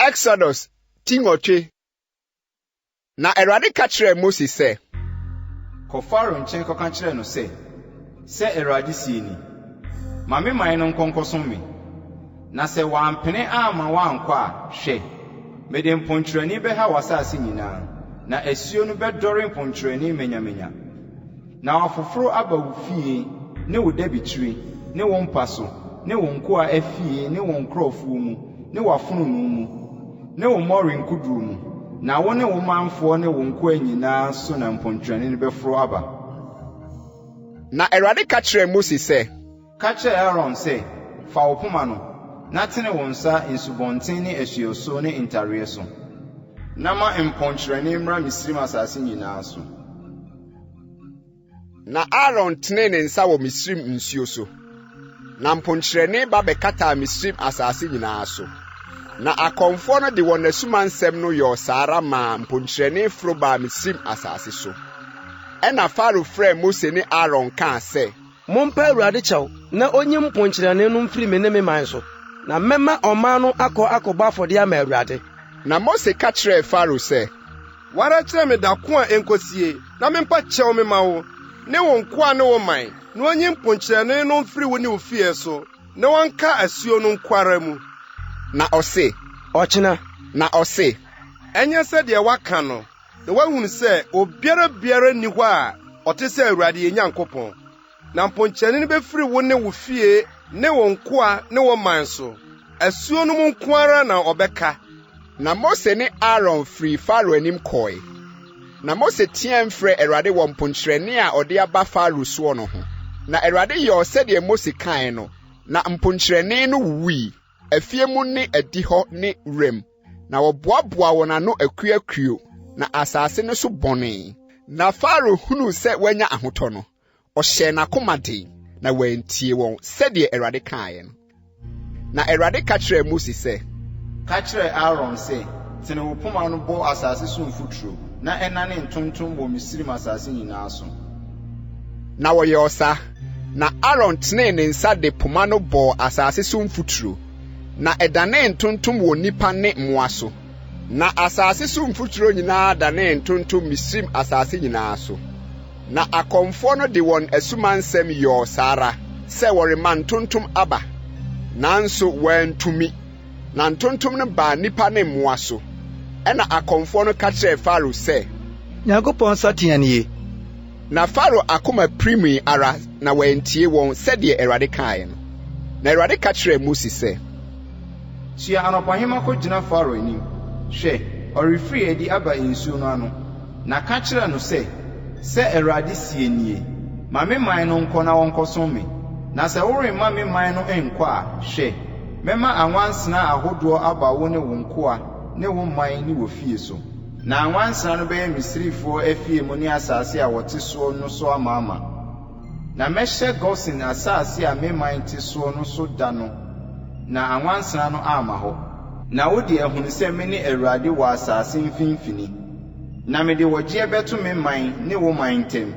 Exodus ti nwɔtwe. Na Awurade ka kyerɛɛ Mose sɛ. Kɔ Farao nkyɛn kɔka kyerɛ no sɛ, 'Sɛ Awurade seɛ ni, Ma me man no nkɔ nkɔsom me. Na sɛ wɔampene amma wɔankɔ a, hwɛ! Mede mponkyerɛne bɛha w'asase nyinaa, na asuo no bɛdɔre mponkyerɛne manyamanya. Na afoforo aba wo fie, ne wo dabikyire, ne wo mpa so, ne wo nkoa afie, ne wo nkurɔfoɔ mu, ne w'afononoo mu, ne wo mmɔre nkodoɔ mu, na wo ne wo manfoɔ ne wo nkoa nyina ara so na mponkyerɛne no bɛforo aba. Na Awurade ka kyerɛɛ Mose sɛ. Ka kyerɛ Aaron sɛ, 'Fa wo poma no, na tene wo nsa nsubɔnten ne asuo so ne ntareɛ so. Na ma mponkyerɛne mmra Misraim asase nyinaa so. Na Aaron tenee ne nsa wɔ Misraim nsuo so, na mponkyerɛne ba bɛkataa Misraim asase nyinaa so. Na akɔmfoɔ no de wɔn asumansɛm no yɔɔ saa ara maa mponkyerɛne foro baa Misraim asase so. Ɛnna Farao frɛɛ Mose ne Aaron kaa sɛ, Mompa Awurade kyɛw na onyi mponkyerɛne no mfiri me ne me man so, na mɛma ɔman no akɔ akɔbɔ afɔdeɛ ama Awurade. Na Mose ka kyerɛɛ Farao sɛ. Wo ara kyerɛ me da ko a ɛnkɔsie, na mempa kyɛw mema wo ne wo nkoa ne wo man, na onyi mponkyerɛne no mfiri wo ne wo fie so, na ɔnka asuo no nko ara mu. Na ɔse. Ɔkyena. Na ɔse. Ɛnyɛ sɛdeɛ woaka no. Na woahunu sɛ obiara biara nni hɔ a ɔte sɛ Awurade yɛn Nyankopɔn, na mponkyerɛne no bɛfiri wo ne wo fie ne wo nkoa ne wo man so. Asuo no mu nko ara na ɔbɛka. Na Mose ne Aaron firii Farao anim kɔe, na Mose teaam frɛɛ Awurade wɔ mponkyerɛne a ɔde aba Farao soɔ no ho, na Awurade yɔɔ sɛdeɛ Mose kaeɛ no, na mponkyerɛne no wuwui, afie mu ne adihɔ ne wuram. na wɔboaboaa wɔn ano akuakuo, na asase no so bɔnee. Na Farao hunuu sɛ wanya ahotɔ no, ɔhyɛɛ n'akoma den, na wantie wɔn, sɛdeɛ Awurade kaeɛ no. Na Awurade ka kyerɛɛ Mose sɛ. Ka kyerɛ Aaron sɛ, Tene wo poma no bɔ asase so mfuturo, na ɛnane ntontom wɔ Misraim asase nyinaa so. Na wɔyɛɔ saa. Na Aaron tenee ne nsa de poma no bɔɔ asase so mfuturo. na ɛdanee ntontom wɔ nnipa ne mmoa so, na asase so mfuturo nyinaa danee ntontom Misraim asase nyinaa so. Na akɔmfoɔ no de wɔn asumansɛm yɔɔ saa ara sɛ wɔrema ntontom aba, nanso wɔantumi, na ntontom no baa nnipa ne mmoa so. Ɛnna akɔmfoɔ no ka kyerɛɛ Farao sɛ. Nyankopɔn nsateaa nie! Na Farao akoma pirimii ara, na wantie wɔn sɛdeɛ Awurade kaeɛ no. Na Awurade ka kyerɛɛ Mose sɛ. Soa anɔpahema kɔgyina Farao anim, hwɛ, ɔrefiri adi aba nsuo no ano, na ka kyerɛ no sɛ, 'Sɛ Awurade seɛ nie, Ma me man no nkɔ na wɔnkɔsom me, na sɛ woremma me man no nnkɔ a, hwɛ, mɛma anwansena ahodoɔ aba wo ne wo nkoa ne wo man ne wo fie so. Na nwansena no bɛyɛ Misrifoɔ afie mu ne asase a wɔte soɔ no so amaama. Na mɛhyɛ Gosen asase a me man te soɔ no so da no, na anwansena no amma hɔ. Na wo deɛ, hunu sɛ mene Awurade wɔ asase mfimfini, na mede ɔgyeɛ bɛto me man ne wo man ntam.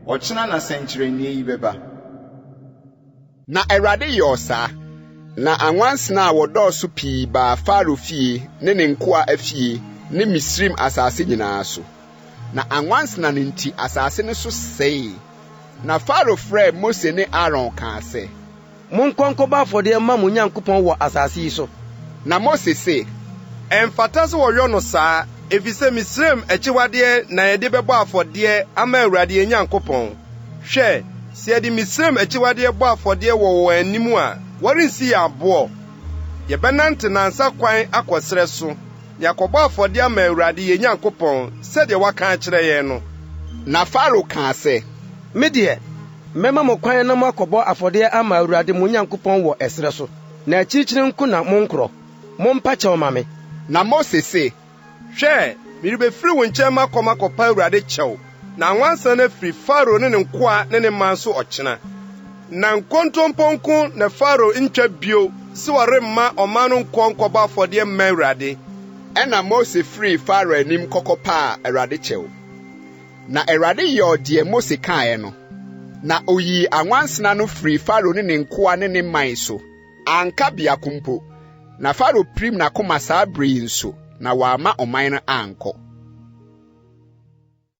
Ɔkyena na sɛnkyerɛnneɛ yi bɛba. Na Awurade yɔɔ saa. Na anwansena a wɔdɔɔso pii baa Farao fie ne ne nkoa afie ne Misraim asase nyinaa so, na anwansena no nti asase no so sɛee. Na Farao frɛɛ Mose ne Aaron kaa sɛ. Monkɔ nkɔbɔ afɔdeɛ mma mo Nyankopɔn wɔ asase yi so. Na Mose se. Ɛmfata sɛ wɔyɔ no saa, efisɛ Misraim akyiwadeɛ na yɛde bɛbɔ afɔdeɛ ama Awurade yɛn Nyankopɔn. Hwɛ! Sɛ yɛde Misraim akyiwadeɛ bɔ afɔdeɛ wɔ wɔn anim a, wɔrensi yɛn aboɔ. Yɛbɛnante nnansa kwan akɔ serɛ so, na yɛakɔbɔ afɔdeɛ ama Awurade yɛn Nyankopɔn sɛdeɛ waka akyerɛ yɛn no. Na Farao kaa sɛ, Me deɛ, mɛma mo kwan na moakɔbɔ afɔdeɛ ama Awurade mo Nyankopɔn wɔ ɛserɛ so, na akyirikyiri nko na monkorɔ. Mompa kyɛw ma me. Na Mose se, Hwɛ, merebefiri wo nkyɛn makɔ makɔpa Awurade kyɛw, na nwansena no afiri Farao ne ne nkoa ne ne man so ɔkyena. Na nkontompo nko na Farao ntwa bio se ɔremma ɔman no nkɔ nkɔbɔ afɔdeɛ mma Awurade. Ɛnna Mose firii Farao anim kɔkɔpaa Awurade kyɛw. Na Awurade yɔɔ deɛ Mose kaeɛ no, na ɔyii anwansena no firii Farao ne ne nkoa ne ne man so. Anka biako mpo. Na Farao pirim n'akoma saa bere yi nso, na wamma ɔman no ankɔ.